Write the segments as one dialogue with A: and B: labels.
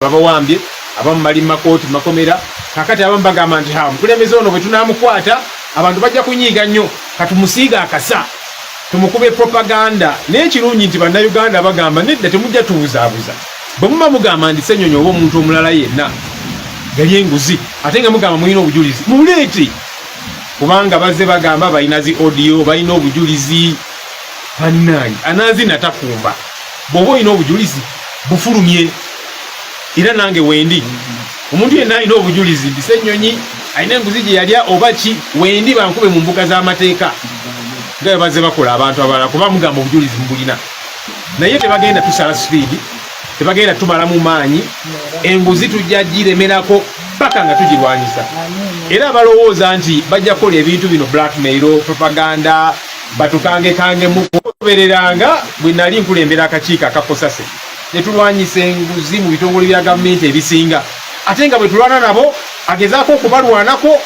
A: babawambye abamu bali mumakooti mumakomera kakati abamu bagamba nti ha omukulembeze ono bwetunamukwata abantu bajja kunyiiga nnyo katumusiiga akasa tumukube propaganda naye ekirungi nti bannayuganda bagamba nedda temujja tubuzaabuza bwe muba mugamba nti senyonyi oba omuntu omulala yenna yali enguzi ate nga mugamba mulina obujulizi muleete kubanga bazze bagamba balina zi odio balina obujulizi bannange anazina takumba bwoba olina obujulizi bufulumye era nange wendi omuntu yenna alina obujulizi nti senyonyi alina enguzi gye yalya oba ki wendi bankube mu mbuga z'amateeka nga bwe bazze bakola abantu abalala kuba mugamba obujulizi mubulina naye tebagenda tusala sipiidi tebagenda tumalamu maanyi enguzi tujja giremerako paka nga tugirwanyisa era balowooza nti bajja kukola ebintu bino blackmail propaganda batukangekange mu kugobereranga bwe nali nkulembera akakiiko aka COSASE ne tulwanyisa enguzi mu bitongole bya gavumenti ebisinga ate nga bwe tulwana nabo agezaako okubalwanako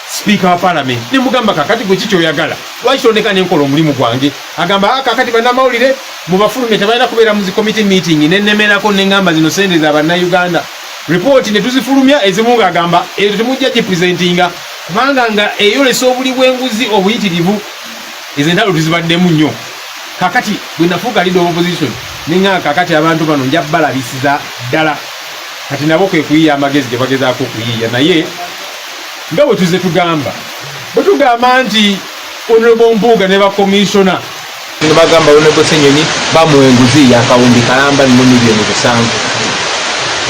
A: sipiika wa palamenti ne mugamba kakati gwe kikyoyagala lwaki tondeka ne nkola omulimu gwange agamba ah, kakati bannamawulire mu bafulume tebalina kubeera mu zikomiti meeting ne nnemerako ne ngamba zino sente za bannayuganda ripooti ne tuzifulumya ezimu ng'agamba ezo temujja gipresentinga kubanga nga eyolesa obuli bw'enguzi obuyitirivu ezo entalo tuzibaddemu nnyo kakati bwe nafuuka leader of opposition ninga kakati abantu bano nja balabisiza ddala kati nabo kwe kuyiya amagezi gye bagezaako okuyiiya naye nga bwe tuzze tugamba bwe tugamba nti onobo mpuuga ne bakomishona Bino bagamba
B: Honorable Senyonyi bamuwa enguzi yakawumbi kalamba nno miliyoni busanvu.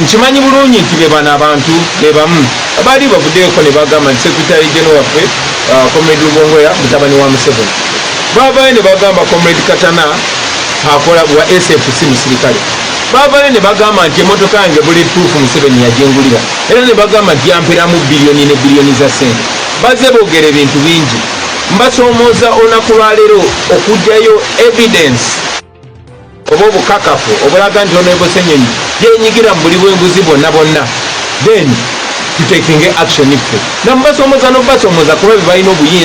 B: Nkimanyi bulungi nti be bano abantu be bamu abaali bavuddeko ne bagamba nti Secretary General waffe uh, Comrade Lubongoya mutabani wa Museveni. Baavaayo ne bagamba Comrade Katana akola wa SFC musirikale. Baavaayo ne bagamba nti emmotoka yange bulletproof Museveni yajengulira era ne bagamba nti yamperamu biliyoni ne biliyoni za ssente. Bazze boogera ebintu bingi. Mbasomooza olunaku lwaleero okugyayo evidence oba obukakafu obulaga nti ono ebosenyonyi yenyigira mu buli bwenguzi bwonna bwonna then tutekinge action ffe namubasomooza nobasomooza kuba bebalina obuyinza